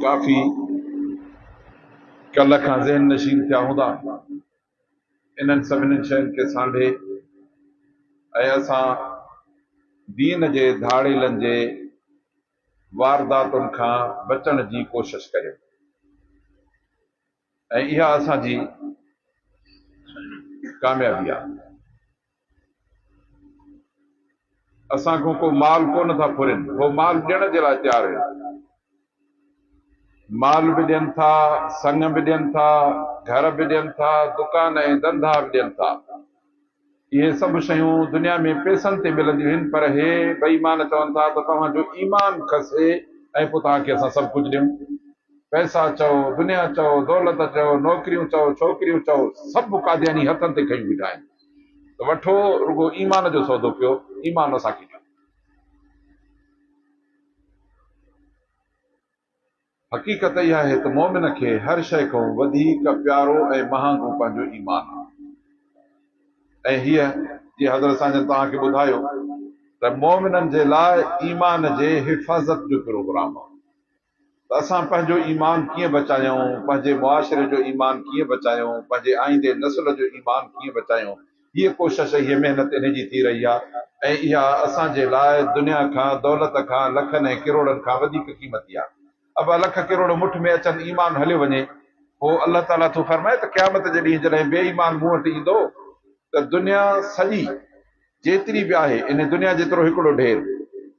ڪافي ڪلهه کان ذهن نشين ٿيا هوندا انهن سڀني شين کي سانڍي ۽ اسان دين جي ڌاڙيلن جي وارداتن کان بچڻ جي ڪوشش ڪريو ۽ اها اسان جي ڪاميابي آهي. اسان کان ڪو مال ڪونه ٿا ڦرين، هو مال ڏيڻ جي لاء تيار آهن. مال به ڏين ٿا، سڱ به ڏين ٿا، گهر به ڏين ٿا، دڪان ۽ ڌنڌا به ڏين ٿا. اهي سڀ شيون دنيا ۾ پئسن تي ملنديون آهن، پر هي بي ايمان چون ٿا ته توهان جو ايمان کسي ۽ پوء توهان کي اسان سڀ ڪجهه ڏيون. پئسا چئو، دنيا چئو، دولت چئو، نوڪريون چئو، ڇوڪريون چئو، سڀ قادياني هٿن تي کنيون بيٺا آهن. ته وٺو رڳو ايمان جو سودو پيو ايمان اسان کي ڏيو. حقيقت اها آهي ته مؤمن کي هر شيء کان وڌيڪ پيارو ۽ مهانگو پنهنجو ايمان آهي ۽ هيء جيئن حضرت سان جن توهان کي ٻڌايو ته مؤمنن جي لاء ايمان جي حفاظت جو پروگرام آهي. ته اسان پنهنجو ايمان ڪيئن بچايون، پنهنجي معاشري جو ايمان ڪيئن بچايون، پنهنجي آئيندي نسل جو ايمان ڪيئن بچايون. هيء ڪوشش، هيء محنت انهي جي ٿي رهي آهي ۽ اها اسان جي لاء دنيا کان، دولت کان، لکن ۽ ڪروڙن کان وڌيڪ قيمتي آهي. ابا لک ڪروڙ مٺ ۾ اچن، ايمان هليو وڃي. پوء الله تعاليٰ ٿو فرمائي ته قيامت جي ڏينهن جڏهن بي ايمان مون وٽ ايندو ته دنيا سڄي. جيتري به آهي ان دنيا جيترو هڪڙو ڍير.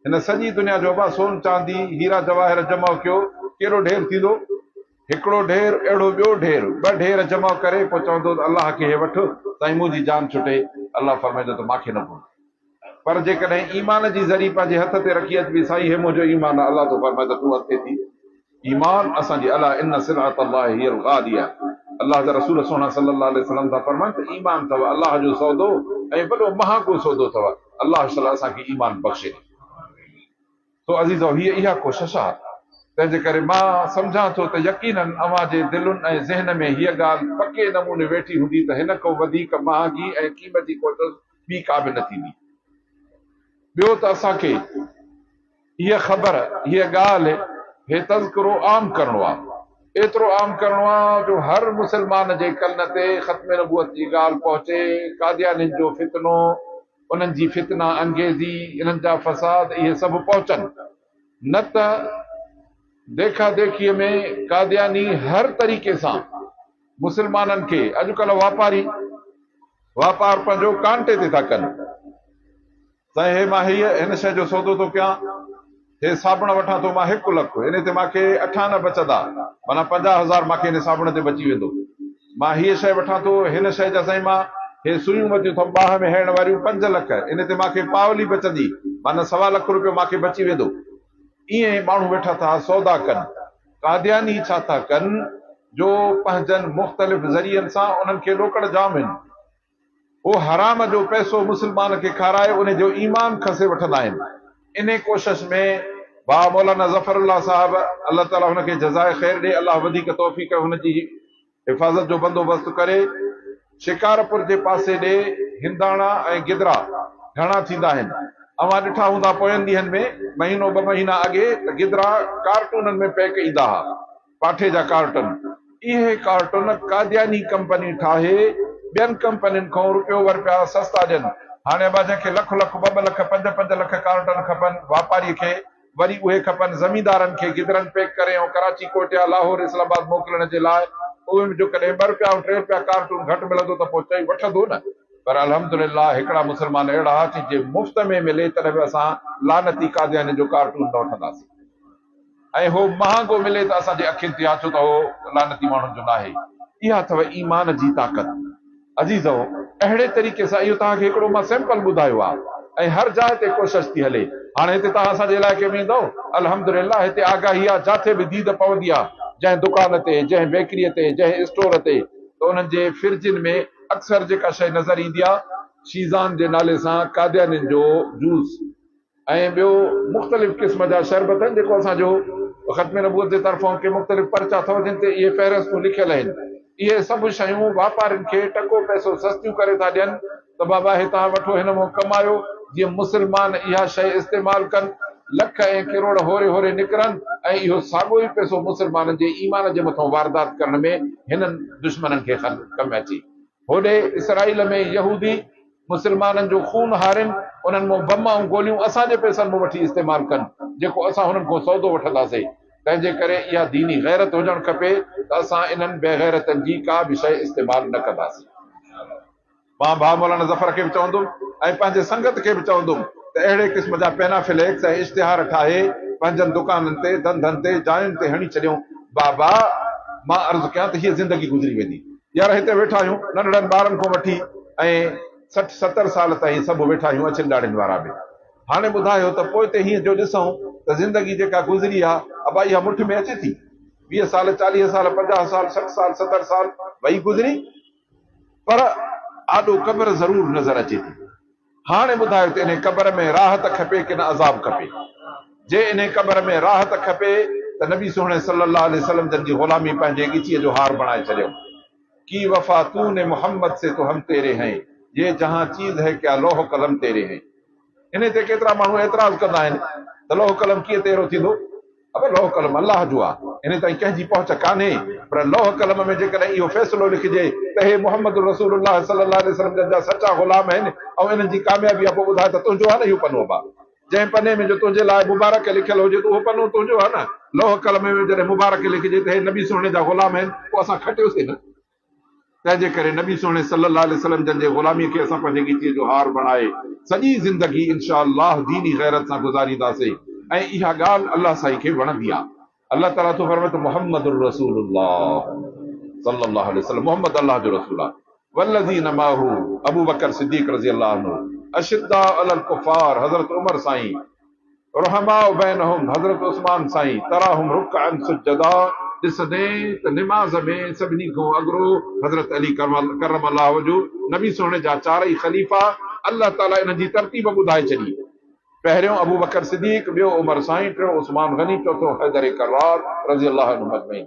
هن سڄي دنيا جو ابا سون چاندي هيرا جواهر جمع ڪيو ڪيڏو ڍير ٿيندو؟ هڪڙو ڍير اهڙو ٻيو ڍير ٻه ڍير جمع ڪري پوء چوندو ته الله کي هي وٺ سائين منهنجي جان ڇٽي الله فرمائيندو ته مانکي نه ڀول پر جيڪڏهن ايمان جي ذري پنهنجي هٿ تي رکي اچبي سائين هي منهنجو ايمان آ الله ٿو فرمائي ته تون اڳتي ٿي ايمان اسان جي الا ان سلعة الله هي الغاليه الله جا رسول سهڻا صلي الله عليه وسلم ٿا فرمائن ته ايمان اٿو الله جو سودو ۽ وڏو مهانگو سودو اٿو الله شل اسان کي ايمان بخشي سو عزيزو هي اها ڪوشش آهي تنهن جي ڪري مان سمجهان ٿو ته يقينا اوهان جي دلن ۽ ذهن ۾ هيء ڳالهه پڪي نموني ويٺي هوندي ته هن کان وڌيڪ مهانگي ۽ قيمتي ڪوشش ٻي ڪا به نه ٿيندي ٻيو ته اسان کي هيء خبر، هيء ڳالهه، هي تذڪرو عام ڪرڻو آ. ايترو عام ڪرڻو آ جو هر مسلمان جي ڪن تي ختم نبوت جي ڳالهه پهچي، قاديانين جو فتنو، انهن جي فتنه انگيزي، انهن جا فساد اهي سڀ پهچن. نه ته ديکا ديکيء ۾ قادياني هر طريقي سان مسلمانن کي، اڄڪلهه واپاري واپار پنهنجو ڪانٽي تي ٿا ڪن. ته هي مان هيء هن شيء جو سودو ٿو ڪيان، هي صابڻ وٺان ٿو مان هڪ لک، انهي تي مان کي اٺانه بچدا، معنيٰ پنجاهه هزار مان کي انهي صابڻ تي بچي ويندو. مان هيء شيء وٺان ٿو، هن شيء جا سائين مان هي سويون وتيون ٿم ٻانهن ۾ هڻڻ واريون پنج لک، انهي تي مان کي پاولي بچندي، معنيٰ سوا لک روپيو مان کي بچي ويندو. ائين ماڻهو ويٺا ٿا سودا ڪن. قادياني ڇا ٿا ڪن جو پنهنجن مختلف ذريعن سان انهن کي ڏوڪڙ جام هن. هو حرام جو پئسو مسلمان کي کارائي ان جو ايمان کسي وٺندا آهن انهي ڪوشش ۾ بابا مولانا ظفر الله صاحب الله تعالي هن کي جزائي خير ڏي الله وڌيڪ توفيق هن جي حفاظت جو بندوبست ڪري شڪارپور جي پاسي ڏي هنداڻا ۽ گدرا گهڻا ٿيندا آهن اوهان ڏٺا هوندا پوين ڏينهن ۾ مهينو ٻه مهينا اڳي ته گدرا ڪارٽونن ۾ پيڪ ايندا ها. پاٺي جا ڪارٽن، اهي ڪارٽن قادياني ڪمپني ٺاهي ٻين ڪمپنين کان روپيو ورپيا سستا ڏين، هاڻي اڀا جنهن کي لک لک، ٻه ٻه لک، پنج پنج لک ڪارٽن کپن واپاري کي وري اهي کپن زميندارن کي گدرن پيڪ ڪري ۽ ڪراچي ڪوئٽيا لاهور اسلام آباد موڪلڻ جي لاء اوهين جو ڪڏهن ٻه روپيا ۽ ٽي روپيا ڪارٽون گهٽ ملندو ته پوء چئي وٺندو نه پر الحمدلله هڪڙا مسلمان اهڙا ها چي جي مفت ۾ ملي تڏهن به اسان لعنتي قاديانين جو ڪارٽون نه وٺنداسين. ۽ هو مهانگو ملي ته اسان جي اکين تي آڇو ته هو لعنتي ماڻهن جو ناهي. اها اٿئو ايمان جي طاقت. عزيزؤ! اهڙي طريقي سان اهو توهان کي هڪڙو مان سيمپل ٻڌايو آهي ۽ هر جاء تي ڪوشش ٿي هلي. هاڻي هتي توهان اسان جي علائقي ۾ ايندؤ. الحمدلله هتي آگاهي آهي جاٿي به ديد پوندي آهي جنهن دڪان تي، جنهن بيڪري تي، جنهن اسٽور تي ته انهن جي فرجن ۾ اڪثر جيڪا شيء نظر ايندي آهي شيزان جي نالي سان قاديانين جو جوس ۽ ٻيو مختلف قسم جا شربت آهن جيڪو اسان جو ختم نبوت جي طرفان ڪي مختلف پرچا اٿو جن تي اهي فهرستون لکيل آهن اهي سڀ شيون واپارين کي ٽڪو پئسو سستيون ڪري ٿا ڏين ته بابا هتان وٺو هن مون ڪمايو جيئن مسلمان اها شيء استعمال ڪن لک ۽ ڪروڙ هوري هوري نڪرن ۽ اهو ساڳو ئي پئسو مسلمانن جي ايمان جي مٿان واردات ڪرڻ ۾ هنن دشمنن کي ڪم اچي هوڏي اسرائيل ۾ يهودي مسلمانن جو خون هارين، انهن مون بم ۽ گوليون اسان جي پئسن مون وٺي استعمال ڪن، جيڪو اسان هنن کون سودو وٺنداسين. تنهن جي ڪري اها ديني غيرت هجڻ کپي ته اسان انهن بيغيرتن جي ڪا به شيء استعمال نه ڪنداسين. مان ڀاء مولانا ظفر کي به چوندم ۽ پنهنجي سنگت کي به چوندم ته اهڙي قسم جا پينا فليڪس ۽ اشتهار ٺاهي پنهنجن دڪانن تي، ڌنڌن تي، جاين تي هڻي ڇڏيون. بابا! مان عرض ڪيان ته هيء زندگي گذري ويندي. يار هتي ويٺا آهيون ننڍڙن ٻارن کان وٺي ۽ سٺ ستر سال تائين سڀ ويٺا آهيون اڇين ڏاڙهين وارا به هاڻي ٻڌايو ته پوئتي هينئن جو ڏسون ته زندگي جيڪا گذري آ ابا اها مٺ ۾ اچي ٿي ويهه سال چاليهه سال پنجاهه سال سٺ سال ستر سال وئي گذري پر آڏو قبر ضرور نظر اچي ٿي. هاڻي ٻڌايو ته انهي قبر ۾ راحت کپي ڪن عذاب کپي؟ جي انهي قبر ۾ راحت کپي ته نبي سهڻي صلّي اللّٰه عليه وسلّم جن جي غلامي پنهنجي ڳچيء جو هار بڻائي ڇڏيم. ڪي وفا تون ني محمّد سي تو هم تيري هين، يي جهان چيز هي ڪيا لوح قلم تيري هين. انهي تي ڪيترا ماڻهو اعتراض ڪندا آهن ته لوح قلم ڪيئن تيرو ٿيندو؟ پر لوح قلم الله جو آ، ان تائين ڪنهن جي پهچ ڪانهي، پر لوح قلم ۾ جيڪڏهن اهو فيصلو لکجي ته هي محمد رسول الله صلي الله عليه وسلم جن جا سچا غلام آهن ۽ انهن جي ڪاميابي آ پوء ٻڌاء ته تنهنجو آ نه اهو پنو با جنهن پني ۾ جو تنهنجي لاء مبارڪ لکيل هجي ته اهو پنو تنهنجو آ نه، لوح قلم ۾ جڏهن مبارڪ لکجي ته هي نبي سهڻي جا غلام آهن پوء اسان کٽيوسين نه. تنهنجي ڪري نبي سهڻي صلّي اللّٰه عليه وسلّم جن جي غلاميء کي اسان پنهنجي ڳچيء جو هار بڻائي سڄي زندگي ان شاء اللّٰه ديني غيرت سان گذارينداسين ۽ اها ڳالهه الله سائين کي وڻندي آهي. الله تعالٰي ٿو فرمائي ته محمد رسول الله صلّي اللّٰه عليه وسلّم محمد الله جو رسول آهي والذين معه ابوبڪر صديق رضي الله عنه اشدّاء علي الڪفّار حضرت عمر سائين رحماء بينهم حضرت عثمان سائين تراهم رڪعا سجدا ڏسندين ته نماز ۾ سڀني کان اڳرو حضرت علي ڪرم الله وجهه نبي سهڻي جا چارئي خليفا الله تعالي انهن جي ترتيب ٻڌائي ڇڏي پهريون ابوبڪر صديق ٻيو عمر سائين ٽيون عثمان غني چوٿون حيدر ڪرار رضي الله عنهم اجمعين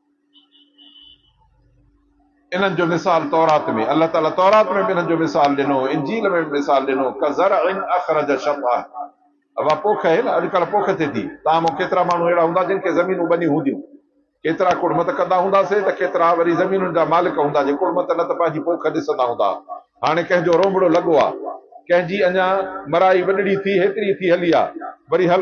انهن جو مثال تورات ۾، الله تعاليٰ تورات ۾ به انهن جو مثال ڏنو، انجيل ۾ به مثال ڏنو، ڪزرع اخرج شطأه، اها پوک اهي نه، اڄڪلهه پوک ٿئي ٿي، تان مون ڪيترا ماڻهو اهڙا هوندا جن کي زمينون ٻنيون هونديون، ڪيترا ڪڙمت ڪندا هونداسين ته ڪيترا وري زمينن جا مالڪ هوندا جي ڪڙمت نه ته پنهنجي پوک ڏسندا هوندا، هاڻي ڪنهن جو رونڀڙو لڳو آ، ڪنهن جي اڃا مرائي وڏڙي ٿي هيتري ٿي هلي آ، وري هل.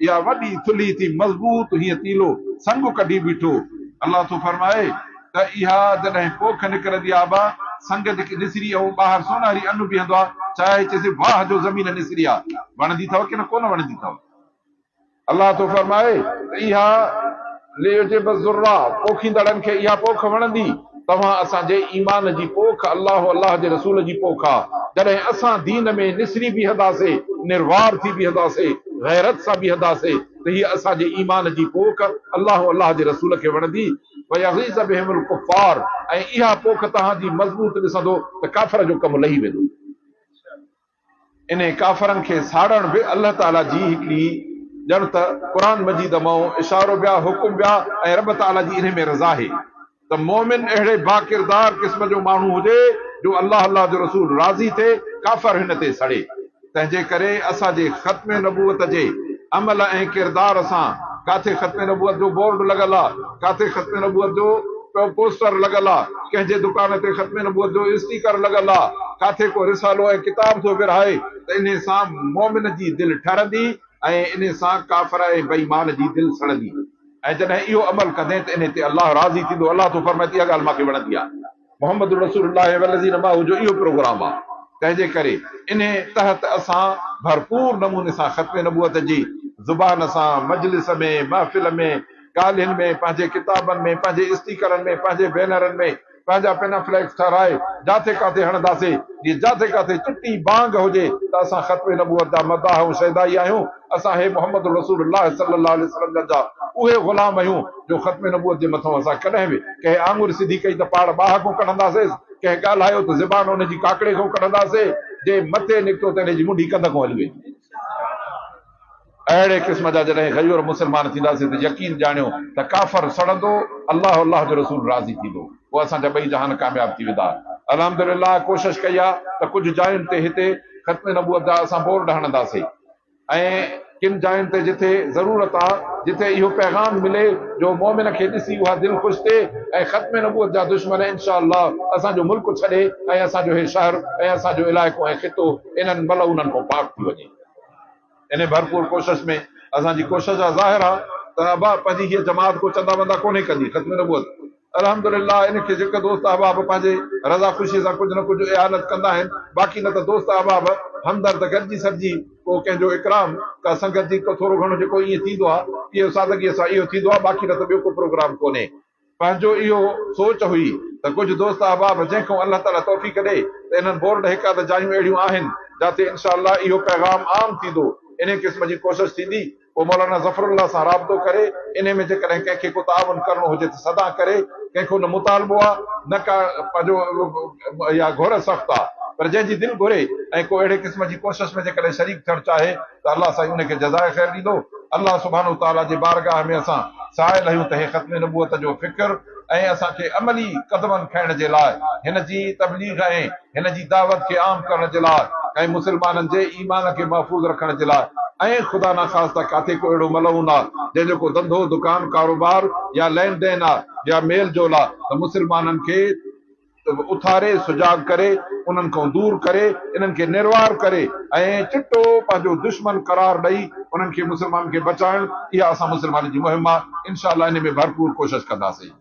اها وڏي ٿلهي ٿي مضبوط هيئن تيلو سنگ ڪڍي بيٺو. الله ٿو فرمائي ته اها جڏهن پوک نڪرندي آبا سنگ جي نسري ۽ ٻاهر سونهري ان بيهندو آ چاهي چيسين واهه جو زمين نسري آ وڻندي اٿئو ڪنه ڪونه وڻندي اٿئو؟ الله ٿو فرمائي ته اها ليعجب الزراع پوکيندڙن کي اها پوک وڻندي. توهان اسان جي ايمان جي پوک الله الله جي رسول جي پوک آ جڏهن اسان دين ۾ نسري بيهداسي نروار ٿي بيهداسي غيرت سان بيهداسي ته هي اسان جي ايمان جي پوک الله الله جي رسول کي وڻندي ويغيظ بهم الڪفار ۽ اها پوک توهان جي مضبوط ڏسندو ته ڪافر جو ڪم لهي ويندو. انهن ڪافرن کي ساڙڻ به الله تعاليٰ جي هڪڙي ڄڻ ته قرآن مجيد مئون اشارو بيا حڪم بيا ۽ رب تعاليٰ جي انهي ۾ رضا آهي ته مؤمن اهڙي باڪردار قسم جو ماڻهو هجي جو الله الله جو رسول راضي ٿئي ڪافر هن تي سڙي تنهنجي ڪري اسان جي ختم نبوت جي عمل ۽ ڪردار سان ڪاٿي ختم نبوت جو بورڊ لڳل آ. ڪاٿي ختم نبوت جو پوسٽر لڳل آ، ڪنهن جي دڪان تي ختم نبوت جو اسٽيڪر لڳل آ، ڪاٿي ڪو رسالو ۽ ڪتاب ٿو ورهائي ته انهي سان مؤمن جي دل ٺرندي ۽ انهي سان ڪافر ۽ بي ايمان جي دل سڙندي ۽ جڏهن اهو عمل ڪندين ته انهي تي الله راضي ٿيندو، الله ٿو فرمائي ته اها ڳالهه مان کي وڻندي آ. محمد رسول الله والذين معه جو اهو پروگرام آهي، تنهن جي ڪري انهي تحت اسان ڀرپور نموني سان ختم نبوت جي زبان سان مجلس ۾، محفل ۾، ڳالهين ۾، پنهنجي ڪتابن ۾، پنهنجي اسٽيڪرن ۾، پنهنجي بينرن ۾، پنهنجا پنا فليڪس ٺهرائي جاٿي ڪاٿي هڻنداسين، جيئن جاٿي ڪاٿي چٽي بانگ هجي ته اسان ختم نبوت جا مداح ۽ شيدائي آهيون. اسان هي محمد رسول الله صلي الله عليه وسلم جن جا اهي غلام آهيون جو ختم نبوت جي مٿئون اسان ڪڏهن به ڪنهن آڱر سڌي ڪئي ته پاڙ ٻاهه کون ڪڍنداسيس، ڪنهن ڳالهايو ته زبان ان جي ڪاڪڙي کون ڪڍنداسي، جي مٿي نڪتو ته ان جي منڍي ڪنڌ کون هلي ويندي. اهڙي قسم جا جڏهن غيور مسلمان ٿينداسي ته يقين ڄاڻيو ته ڪافر سڙندو، الله ۽ الله جو رسول راضي ٿيندو، پوء اسان جا ٻئي جهان ڪامياب ٿي ويندا. الحمدلله ڪوشش ڪئي آهي ته ڪجهه جاين تي هتي ختم نبوت جا اسان بورڊ هڻنداسي. ۽ ڪن جاين تي جتي ضرورت آ جتي اهو پيغام ملي جو مؤمن کي ڏسي اها دل خوش ٿئي ۽ ختم نبوت جا دشمن ان شاء الله اسان جو ملڪ ڇڏي ۽ اسان جو هي شهر ۽ اسان جو علائقو ۽ خطو انهن ملعونن کان پاڪ ٿي وڃي. انهي ڀرپور ڪوشش ۾ اسان جي ڪوشش آ ظاهر آ ته ابا پنهنجي هيء جماعت ڪو چندا وندا ڪونهي ڪندي ختم نبوت الحمد لله ان کي جيڪي دوست احباب پنهنجي رضا خوشي سان ڪجهه نه ڪجهه اعانت ڪندا آهن باقي نه ته دوست احباب همدرد گڏجي سڏجي ڪو ڪنهن جو اڪرام ڪا سنگت جي ڪو ٿورو گهڻو جيڪو ائين ٿيندو آهي پيئو سادگيء سان اهو ٿيندو آهي باقي نه ته ٻيو ڪو پروگرام ڪونهي. پنهنجو اهو سوچ هئي ته ڪجهه دوست احباب جنهن کان الله تعاليٰ توفيق ڏئي ته انهن بورڊ هڪ اڌ جايون اهڙيون آهن جاتي انشاء الله اهو پيغام عام ٿيندو انهي قسم جي ڪوشش ٿيندي پوء مولانا ظفر الله سان رابطو ڪري انهي ۾ جيڪڏهن ڪنهن کي ڪو تعاون ڪرڻو هجي ته سدا ڪري، ڪنهن کي ان مطالبو آ نه ڪا پنهنجو اها گهر سخت آ پر جنهن جي دل گهري ۽ ڪو اهڙي قسم جي ڪوشش ۾ جيڪڏهن شريڪ ٿيڻ چاهي ته الله سائين انهي کي جزاء خير ڏيندو. الله سبحانه تعاليٰ جي بارگاهه ۾ اسان سائل آهيون ته هي ختم نبوت جو فڪر ۽ اسان کي عملي قدمن کڻڻ جي لاء هن جي تبليغ ۽ هن جي دعوت کي عام ڪرڻ جي لاء ۽ مسلمانن جي ايمان کي محفوظ رکڻ جي لاء ۽ خدا نخواسته ڪاٿي ڪو اهڙو ملعون آ جنهن جو ڪو ڌنڌو دڪان ڪاروبار يا لين دين آ يا ميل جول آ ته مسلمانن کي اٿاري سجاڳ ڪري انهن کان دور ڪري انهن کي نروار ڪري ۽ چٽو پنهنجو دشمن قرار ڏئي انهن کي مسلمانن کي بچائڻ اها اسان مسلمانن جي مهم آهي انشاء الله انهي ۾ ڀرپور ڪوشش ڪنداسين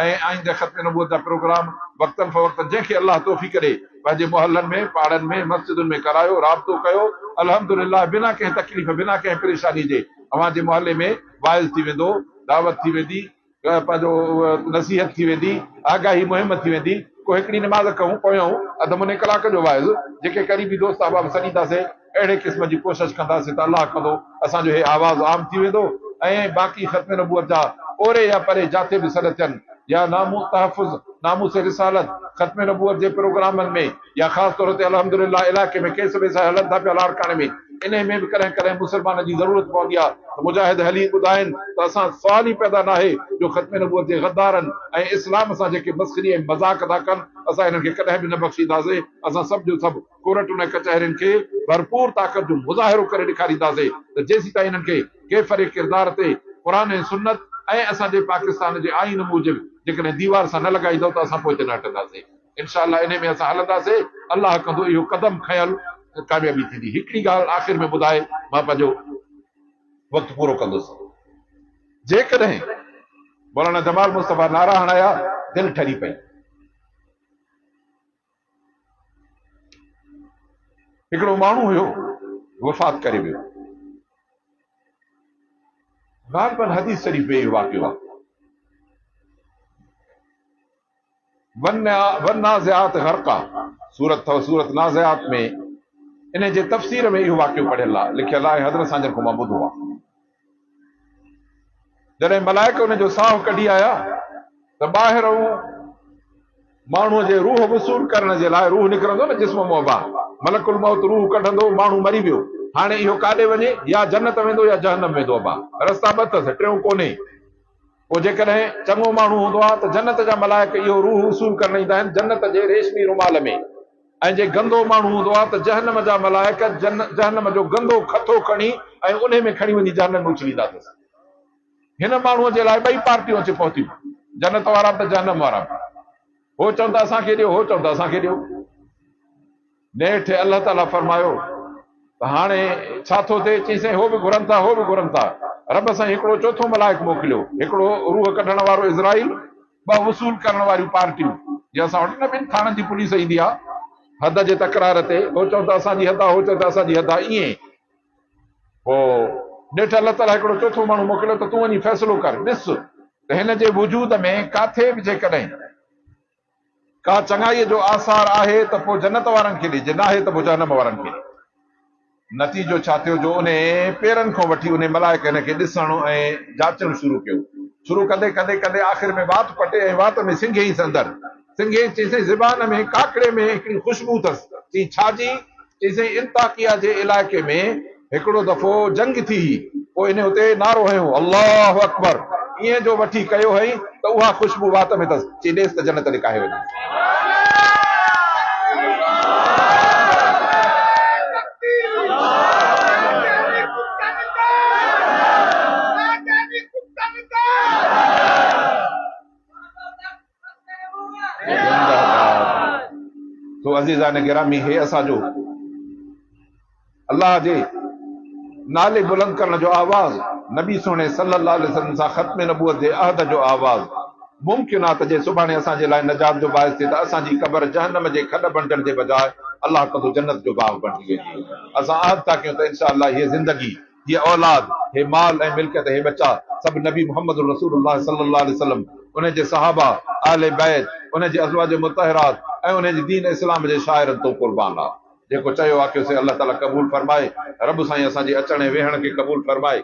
۽ آئينده ختم نبوت جا پروگرام وقتن فوقتن جنهن کي الله توفيق ڏي پنهنجي محلن ۾ پاڙن ۾ مسجدن ۾ ڪرايو رابطو ڪيو الحمدلله بنا ڪنهن تڪليف بنا ڪنهن پريشاني جي اوهان جي محلي ۾ واعظ ٿي ويندو دعوت ٿي ويندي پنهنجو نصيحت ٿي ويندي، آگاهي مهم ٿي ويندي، ڪو هڪڙي نماز کان پويان اڌ مني ڪلاڪ جو واعظ، جيڪي قريبي دوست احباب سڏينداسين، اهڙي قسم جي ڪوشش ڪنداسين ته الله ڪندو اسان جو هي آواز عام ٿي ويندو ۽ باقي ختم نبوت جا اوري يا پري جاتي به سڏ ٿين يا نامون تحفظ ناموس رسالت ختم نبوت جي پروگرامن ۾ يا خاص طور تي الحمد لله علائقي ۾ ڪيس ويس هلن ٿا پيا لاڙڪاڻي ۾ انهي ۾ به ڪڏهن ڪڏهن مسلمان جي ضرورت پوندي آ ته مجاهد هلي ٻڌائين ته اسان سوال ئي پيدا ناهي جو ختم نبوت جي غدارن ۽ اسلام سان جيڪي مسخري ۽ مذاق ٿا ڪن اسان انهن کي ڪڏهن به نه بخشينداسي اسان سڀ جو سڀ ڪورٽن ۽ ڪچهرين کي ڀرپور طاقت جو مظاهرو ڪري ڏيکارينداسي ته جيسيتائين انهن کي ڪيفر ڪردار تي قرآن ۽ سنت ۽ اسان جي پاڪستان جي آئين موجب جيڪڏهن ديوار سان نه لڳائيندؤ ته اسان پوئتي نه هٽنداسي. انشاء الله انهي ۾ اسان هلنداسي الله ڪندو اهو قدم کنيل ڪاميابي ٿيندي هڪڙي ڳالهه آخر ۾ ٻڌائي مان پنهنجو وقت پورو ڪندس جيڪڏهن مولانا جمال مصطفي نعرا هڻايا دل ٺري پئي هڪڙو ماڻهو هيو وفات ڪري ويو غالبن حديث شريف ۾ اهو واقعو آهي والنازعات غرقا سورت اٿو سورت نازعات ۾ انهي جي تفسير ۾ اهو واقعو پڙهيل آهي لکيل آهي حضرت سان جن کان مان ٻڌو آهي جڏهن ملائڪ ان جو ساهه ڪڍي آيا ته ٻاهر هو ماڻهو جي روح وصول ڪرڻ جي لاء روح نڪرندو نه جسم مون ٻاهر ملڪ الموت روح ڪڍندو ماڻهو مري ويو هاڻي اهو ڪاڏي وڃي يا جنت ويندو يا جهنم ويندو ابا رستا ٻه اٿس ٽيون ڪونهي پوء جيڪڏهن چڱو ماڻهو هوندو آهي ته جنت جا ملائڪ اهو روح وصول ڪرڻ ايندا آهن جنت جي ريشمي رومال ۾ ۽ جي گندو ماڻهو هوندو آهي ته جهنم جا ملائڪ جهنم جو گندو کٿو کڻي ۽ انهي ۾ کڻي وڃي جهنم ۾ اڇليندا اٿس هن ماڻهو جي لاء ٻئي پارٽيون اچي پهتيون جنت وارا به ته جهنم وارا به هو چون ته اسان کي ڏيو هو چون ته اسان کي ڏيو نيٺ الله تعاليٰ فرمايو ته هاڻي ڇا ٿو ٿئي؟ چيائين سائين هو به گهرن ٿا هو به گهرن ٿا. رب سائين هڪڙو چوٿون ملائڪ موڪليو، هڪڙو روح ڪڍڻ وارو اسرائيل، ٻه وصول ڪرڻ واريون پارٽيون جيئن اسان وٽ نه ٻن ٿاڻن جي پوليس ايندي آ حد جي تڪرار تي هو چون ته اسان جي حد آ هو چون ته اسان جي حد آ ائين پوء نيٺ الله تعاليٰ هڪڙو چوٿون ماڻهو موڪليو ته تون وڃي فيصلو ڪر ڏس ته هن جي وجود ۾ ڪاٿي به جيڪڏهن ڪا چڱائيء جو آثار آهي ته پوء جنت وارن کي ڏجي، ناهي ته پوء جهنم وارن کي ڏجي. نتيجو ڇا ٿيو جو انهي پيرن کان وٺي انهي ملائڪ هن کي ڏسڻ ۽ جاچڻ شروع ڪيو. شروع ڪندي ڪندي ڪندي آخر ۾ وات پٽي ۽ وات ۾ سنگهيس اندر. سنگهيس چيسين زبان ۾ ڪاڪڙي ۾ هڪڙي خوشبو اٿس. چيائين ڇا جي؟ چيسين انطاڪيه جي علائقي ۾. هڪڙو دفعو جنگ ٿي هئي، پوء هن اتي نعرو هنيو، الله اڪبر! ايئن جو وٺي ڪيو هئائين ته اها خوشبو وات ۾ اٿس، چي ڏيس ته جنت لڪاهي وڃي. تو عزيزان گرامي هي اسان جو الله جي نالي بلند ڪرڻ جو آواز نبي سهڻي صلي الله عليه وسلم سان ختم نبوت جي عهد جو آواز ممڪن آهي ته جي سڀاڻي اسان جي لاء نجات جو باعث ٿئي ته اسان جي قبر جهنم جي کڏ بڻجڻ جي بجاء الله ڪندو جنت جو باغ بڻجي ويندي اسان عهد ٿا ڪيون ته انشاء الله هيء زندگي هيء اولاد، هي مال ۽ ملڪيت، هي ٻچا، سڀ نبي محمد رسول الله صلّي الله عليه وسلّم، انهي جي صحابه، اهل بيت، انهي جي ازواج مطهرات ۽ انهي جي دين اسلام جي شاعرن تون قربان آ. جيڪو چيو آکيو سي الله تعاليٰ قبول فرمائي. رب سائين اسان جي اچڻ ۽ ويهڻ کي قبول فرمائي.